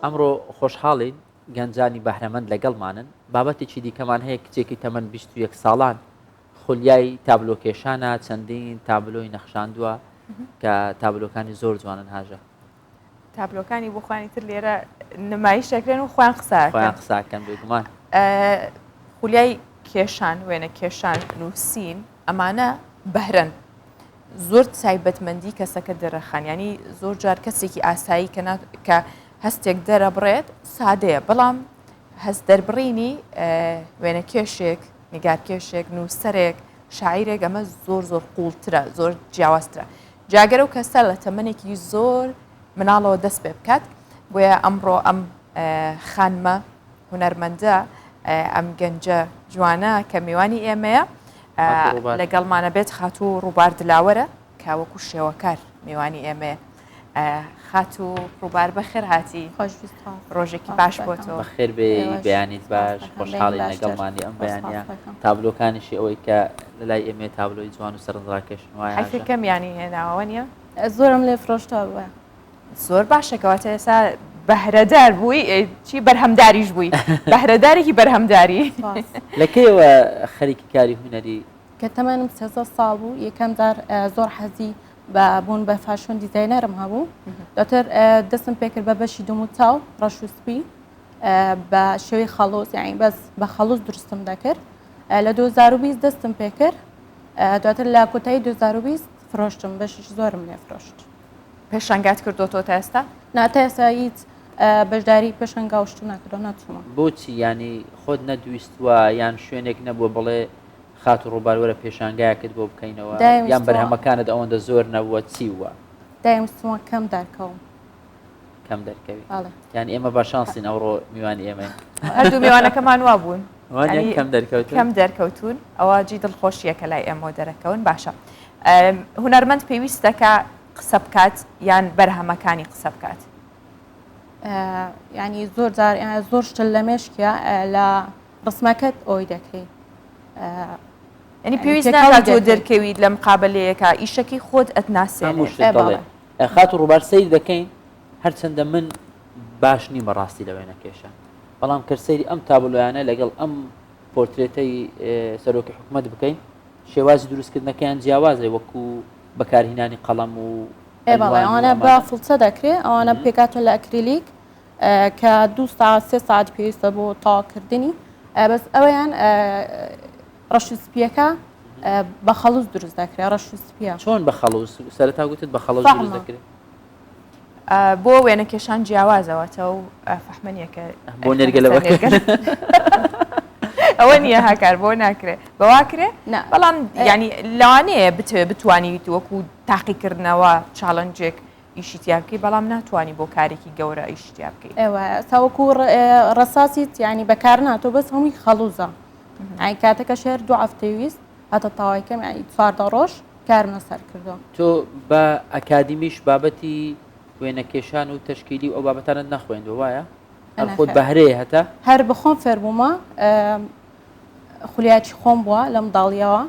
ئەمڕۆ خۆشحاڵین گەنجانی بەهرەمەند لەگەڵمانن، بابەتێکی دیکەمان هەیە کچێکی تەمەن بیست و یەک ساڵان خولیای تابلۆکێشانە چەندین تابلۆی نەخشاندووە کە تابلۆکانی زۆر جوانن هاژە. تابلۆکانی بۆ خۆیانی تر لێرە نمایش دەکرێن و خۆیان قسە خۆیان قساکەن بێگومان. خولیای کێشان وێنە کێشان نووسین. ئەمانە بەهرەن زۆر تایبەتمەندی کەسەکە دەرەخان ینی زۆر جار کەسێکی ئاسایی کە کە هەستێک دەرە بڕێت سادەیە بەڵام هەست دەربڕینی وێنە کێشێک نیگار کێشێک نووسەرێک شاعیرێک ئەمە زۆر زۆر قوڵترە زۆر جیاوازترە جاگەر و کەسە لە تەمەێکی زۆر مناڵەوە دەست پێ بکات بۆیە ئەمڕۆ ئەم خانمە هونەرمەندە ئەم گەنجە جوانە کە میوانی ئێمەیە لەگەڵمانە بێت خاتوو ڕووبار دلاوەرە کاوەکو شێوەکار میوانی ئێمەیە خاتو ڕووبار بەخێر هاتی خۆش ڕۆژێکی باش بۆتەوە خێر بێ بەیانیت باش خۆشحاڵی لەگەڵمانی ئەم بەیانە تابلۆکانیشی ئەوەی کە لە لای ئێمێ تابلۆی جوان و سەرنجڕاکێشن وایە کەم ینی هێناوە نیە زۆرم لێ فرۆشتەوە زۆر باشە کەواتە ئێستا بەهرەدار بووی چی بەرهەمداریش بووی بەهرەدارێکی بەرهەمداری لە کێوە خەریکی کاری هوەری کە تەمانم سێزە ساڵ بوو یەکەم جار زۆر حەزی بە بوون بە فاشۆن دیزینەرم هەبوو دەتر دەستم پێکرد بە بەشی دوم و چاو ڕەش و سپی بە شێوی خەڵۆز یاین بەس بە خەڵوز درستم دەکرد لە 2020 دەستم پێکرد دواتر لە کۆتایی 2020 فرۆشتم بەشیش زۆرم لێ فرۆشت پێشنگات کردوەوە تا ئێستا نا تا ئێستا هیچ بەشداری پێشنگا و شتو ناکردەوە ناچوومە بۆچی ینی خۆت نەدویستوە یان شوێنێک نەبووە بڵێ خات و ڕووبارەوەرە پێشانگایەکت بۆ بکەینەوە یان بەرهەمەکانت ئەوەندە زۆر نەبووە چی وە دایم سووە کەم دارکەوم کەم دەرکەوی یان ئێمە بە شانسین ئەوڕۆ میوان ئێمە هەردوو میوانەکەمان وا بوون کەم دەرکەوت کەم دەرکەوتون ئەوە جی دڵخۆشیەکە لای ئێمە دەرەکەون باشە هوەرمەند پێویستەکە قسە بکات یان بەرهەمەکانی قسە بکات ینی زۆر جار زۆر شتل لە مێشکە لە ڕسمەکەت ئەوی دەکەیت ینی پێویست دەرکەویت لەم قابلەیەەکە ئیشەکەی خۆت ئەتناسێ خاتو ڕوبار سەیر دەکەین هەرچەندە من باش نیم بەڕاستی لە وێنەکێشە بەڵام کە سەیری ئەم تابلۆیانە لەگەڵ ئەم پۆرترێتەی سەرۆکی حکوومەت بکەین شێوازی دروستکردنەکەیان جیاوازێ وەکو بەکارهینانی قەڵەم و ئەوانە بە فڵچە دەکرێت ئەوانە پێکاتون لە ئەکریلیک کە دو ساعت سێ ساعت پێویستە بۆ تاواکردنی بەس ئەویان ڕەش و سپیەکە بە خەڵوز دروست دەکرێت ڕەش و سپیە چۆن بە خەڵوز سەرتا گوتت بە خەڵوز دروست دەکرێت بۆ وێنە کێشان جیاوازەوەتە و فەحمەنیەکە بۆ نێرگەلەوە ئەوە نییە هاکار بۆ ناکرێت بەواکرێ بەڵام ینی لەوانەیە بتوێ بتوانیت وەکو تاقیکردنەوە چاڵنجێک ئیشیتیابکی بەڵام ناتوانانی بۆ کارێکی گەورە ئیشتیا بکەیت ئەوە تاوەکو ڕساسی تیانی بەکار ناتۆ بەس هەمووی خەڵوزە ئای کاتەکەش هەر دوو هەفتەی ویست هەتا تاوای کەم ئای چواردە ڕۆژ کارمە سەر کردو تۆ بە ئەکادیمیش بابەتی وێنەکێشان و تەشکیلی و ئەو بابەتانت نەخوێندو وایە هەر خۆت بەهرەیە هەتا هەر بخۆم فێربوومە خولیاکی خۆم بووە لەم داڵیەوە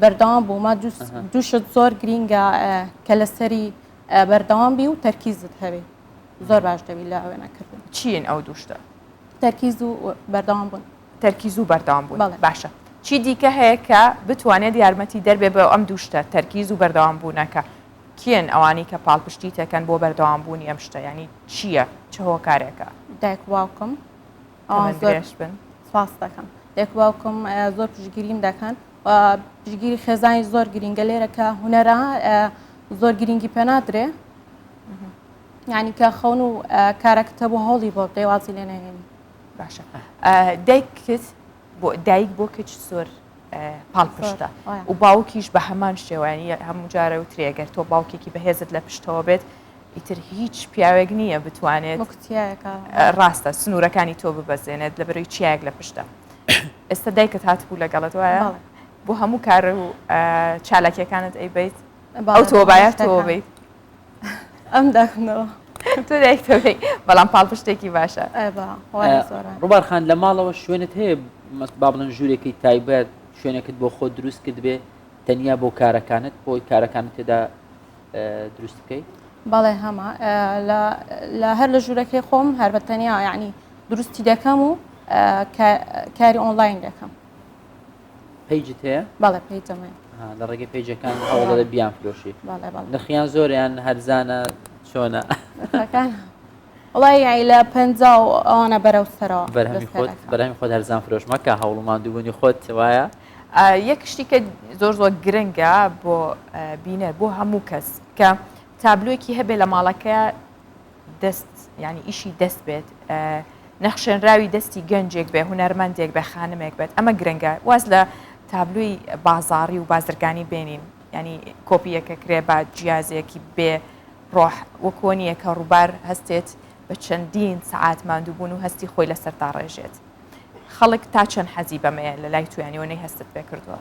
بەردەوام بوومە دووشت زۆر گرینگە کە لەسەری بەردەوام بی و تەرکیزت هەبێ زۆر باش دەبی لە وێنەکردن چین ئەو دووشتە تەرکیز و بەردەوام بوون. تەرکیز و بەردەوام بوون بەڵێ. باشە چی دیکە هەیە کە بتوانێت یارمەتی دەربێ بە ئەم دوو شتە تەرکیز و بەردەوام بوونەکە کێن ئەوانەی کە پاڵپشتیت دەکەن بۆ بەردەوام بوونی ئەم شتە یانی چییە چ هۆکارێکە؟ دایک و باوکم ئەوان تەمەن زۆر درێژ بن سپاس دەکەم دایک و باوکم ئە، زۆر پشتگیریم دەکەن و پشتگیری خێزانی زۆر گرینگە لێرە کە هونەرە ئە، زۆر گرینگی پێ نادرێ یعنی کە خەون و کارەکتە بۆ هەوڵی بۆ بێ وازی لێ نەهێنی باشە دایکت بۆ دایک بۆ کچ زۆر پاڵپشتە و باوکیش بە هەمان شێوانی هەموو جارە و ترێگەر تۆ باوکێکی بەهێزت لە پشتەوە بێت ئیتر هیچ پیاوێک نییە بتوانێت ڕاستە سنوورەکانی تۆ ببەزێنێت لە بەرەی چیاک لە پشتە ئێستا دایکت هاتبوو لەگەڵت وایە بۆ هەموو کارە و چالاکیەکانت ئەیبیت ئەو تۆ باە تۆ بیت ئەم داخنەوە تۆ دایکتەکەی بەڵام پاڵپشتێکی باشە ڕوبارخان لە ماڵەوە شوێنت هەیە با بڵێن ژوورێکی تایبەت شوێنێکت بۆ خۆ دروست کرد بێ تەنیا بۆ کارەکانت بۆی کارەکان تێدا دروست بکەیت بەڵێ هەما لە هەر لە ژوورەکەی خۆم هەر بە تەنیا یعنی دروستی دەکەم و کاری ئۆنلاین دەکەم پیجت هەیە بەڵێ پیجم هەیە ها لە ڕێگەی پیجەکان هەوڵ دەدە بیانفرۆشی بەڵێ بەڵێ نرخیان زۆریان هەرزانە چۆنە نرخەکان وڵی یای لە پێ و ئەوانە بەرەو سەرەوە بەرهەمی خۆت بەرەمی خۆت هەرزان فرۆش مەکە هەوڵ و مادووبوونی خۆت وایە یەک شتی کە زۆر زۆر گرنگە بۆ بینەر بۆ هەموو کەس کە تابلوێکی هەبێ لە ماڵەکە دەست یعنی ئیشی دەست بێت نەخشێنراوی دەستی گەنجێک بێ هونەرمەندێک بێ خانمێک بێت ئەمە گرنگە واز لە تابلوی بازاری و بازرگانی بێنین ینی کۆپیەکە کرێ با جیازێکی بێ ڕۆح وەکۆنیە کە ڕووبار هەستێت بە چەندین سعات مادووبوون و هەستی خۆی لەسەر تا ڕێژێت خەڵک تا چەند حەزی بەمەیە لە لای تویانەوە نەی هەستت پێ کردووە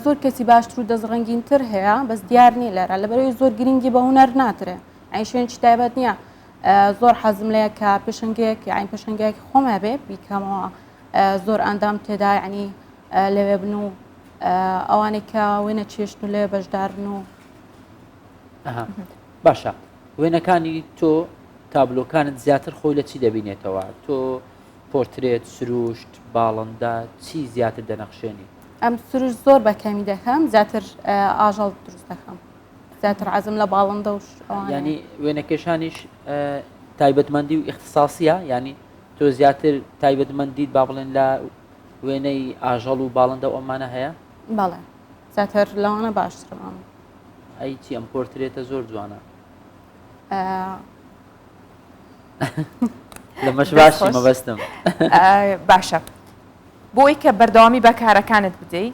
زۆر کەسی باشتر و دەست ڕنگینتر هەیە بەس دیار نیە لەرا لەبەرەوەی زۆر گرنگی بە هوەر ناکرێت ئەین شوێنی تایبەت نییە زۆر حەزم لەیە کە پێشنگێک ئەین پێشنگێک خۆمە بێ بیکەمەوە زۆر ئەندام تێدا ینی لەوێ بن و ئەوانێک کە وێنە چێشت و لێ بەشدارن و باشە وێنەکانی تۆ تابلۆکانت زیاتر خۆی لە چی دەبینێتەوە تۆ پۆرترێت سروشت باڵندا چی زیاتر دەنەخشێنی ئەم سروش زۆر بەکەمی دەکەم زیاتر ئاژەڵ دروست دەکەم زیاتر عزم لە باڵندە و ینی وێنەکێشانیش تایبەتمەندی و اختصاصە ینی تۆ زیاتر تایبەتمەندیت با بڵێن لە وێنەی ئاژەڵ و باڵندە و ئەمانە هەیە بەڵێ زیاتر لەوانە باشترمان ئەی چی ئەم پۆرترێتە زۆر جوانە لەمەش باشی مەبەستم باشە بۆی کە بەردەوامی بەکارەکانت بدەیت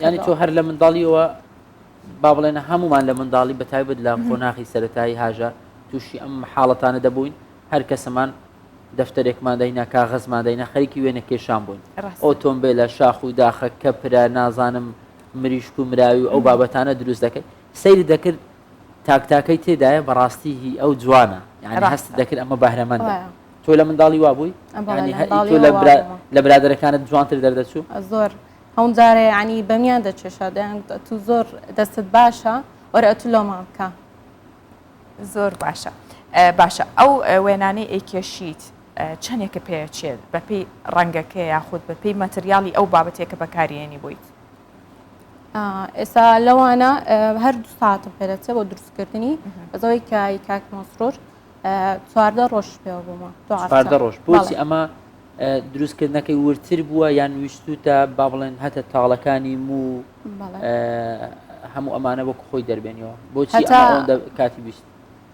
ینی تۆ هەر لە منداڵیەوە با بڵێنە هەمومان لە منداڵی بە تایبەت لە قۆناخی سەتایی هاژە تووشی ئەم حاڵەتانە دەبووین هەر کەسەمان دەفتەرێکمان داینا کاغەزمان داینا خەریکی وێنە کێشان بووین ئۆتۆمبیلە شاخ و داخە کە پرا نازانم مریشک و مراوی و ئەو بابەتانە دروست دەکرد سەیری دەکرد تاک تاکەی تێدایە بەڕاستی هی ئەو جوانە یانی هەست دەکرد ئەمە بەهرەمەندە تۆ لە منداڵی وابووی لە برادەرەکانت جوانتر دەردەچوو زۆر هەم جارێ ینی بەمیان دەچێشا دەیان تو زۆر دەستت باشە وەرە ئەتو لۆمان بکە زۆر باشە باشە ئەو وێنانەی ئەیکێشیت چەندێکە پێچێت بەپی ڕەنگەکە یاخود بەپی مەتریالی ئەو بابەتێکە بەکارێنی بوویت ئێستا لەوانە هەر دو ساعتم پێدەچێت بۆ دروستکردنی بەزەوەی کای کاک مۆسرۆر چواردە ڕۆژ پێوە بوومە چواردە ڕۆژ بۆچی ئەمە دروستکردنەکەی ورتر بووە یان ویستوتە با بڵێن هەتە تاڵەکانی مو هەموو ئەمانە وەک خۆی دەربێنەوە بۆچی کاتی بیست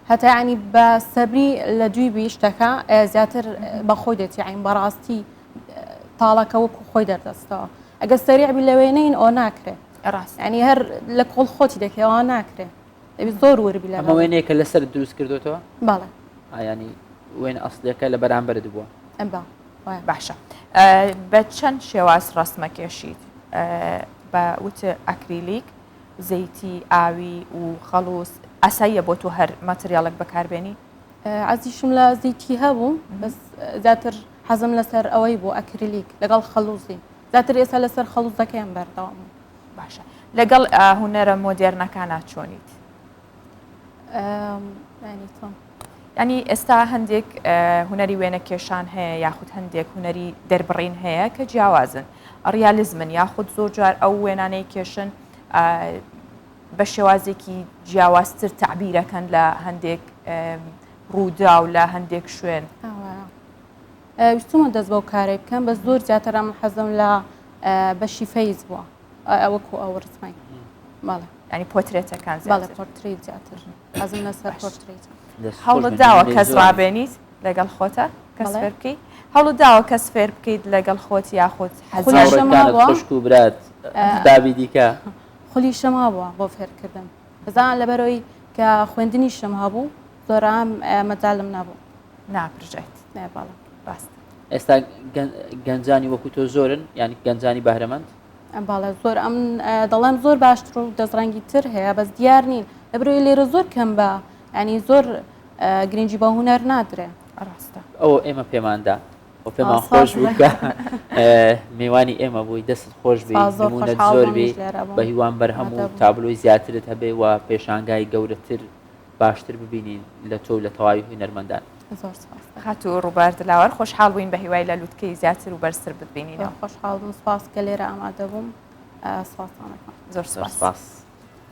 هەتا ینی بە سەبری لە دوی بی شتەکە زیاتر بە خۆی دێتی عین بەڕاستی تاڵەکە وەکو خۆی دەردەستەوە ئەگە سەریع بی لە وێنەین ئەو ناکرێت ڕاست ینی هەر لە کۆڵ خۆتی دەکەوە ناکرێت زۆر وربی لە وێنێکە لەسەر دروست کردوتەوە بەڵێ ئایانی وێن ئەسلەکە لە بەرامبرت بووە ئەم بە باشە بە چەند شێواز ڕسمە کێشیت بە وتە ئەکریلیک زەیتی ئاوی و خەڵوز ئاساییە بۆ تۆ هەر ماتریاڵێک بەکاربێنی؟ عزیشم لە زیتی هەبوو بەس زیاتر حەزم لەسەر ئەوەی بۆ ئەکرلیک لەگەڵ خەلوزی زیاتر ئێستا لەسەر خەڵوزەکەیان بەردەوام باشە لەگەڵ هونەرە مۆدێرنەکانە چۆنیت؟ ینی ئێستا هەندێک هوەری وێنە کێشان هەیە یاخود هەندێک هوەری دەربڕین هەیە کە جیاوازن ڕیالیزمن یاخود زۆر جار ئەو وێنانەی کێشن بە شێوازێکی جیاوازتر تعبیرەکەن لە هەندێک ڕوودا و لە هەندێک شوێن ویستمە دەست بەو کارێک بکەم بە زۆر زیاترم حەزم لە بەشی فەیز بووە ئەوەکو ئەو ڕسمای بەڵێ ئەنی پۆترێتەکان بەڵێ پۆرتری زیاتر ئەزم لەسەر پۆرتری هەوڵت داوە کەس ڕابێنیت لەگەڵ خۆتە کەس فێر بکەیت هەوڵت داوە کەس فێر بکەیت لەگەڵ خۆت یاخود حەزشت و برات دابی دیکە خولی شەما بووە بۆ فێرکردن بزان لەبەرەوەی کە خوێندنی شەم هەبوو زۆرام مەجالم نەبوو ناپرژێت بەڵێ ڕاست ئێستا گەنجانی وەکو تۆ زۆرن یان گەنجانی بەهرەمەند باڵە زۆر ئەم دەڵێن زۆر باشتر و دەستڕەنگی تر هەیە بەس دیار نین لەبرۆی لێرە زۆر کەم بە ینی زۆر گرنگجی بە هوەر نادرێ ڕاستە ئەو ئێمە پێماندا و پێمان خۆش بووکە میوانی ئێمە بووی دەست خۆش بێ زۆر بێ بە هیوان بەرهەم و تابلۆی زیاترت هەبێ و پێشانگای گەورەتر باشتر ببینین لە تۆ لە تەواوی هونەرمەندان زۆر هات و ڕووبار دلاوار خۆشحاڵ بووین بە هیوای لە لووتکەی زیاتر و بەرزتر ببینینە خۆشحاڵ بووم سپاس کە لێرە ئامادەبووم سپاسانەکە زۆر سپاس.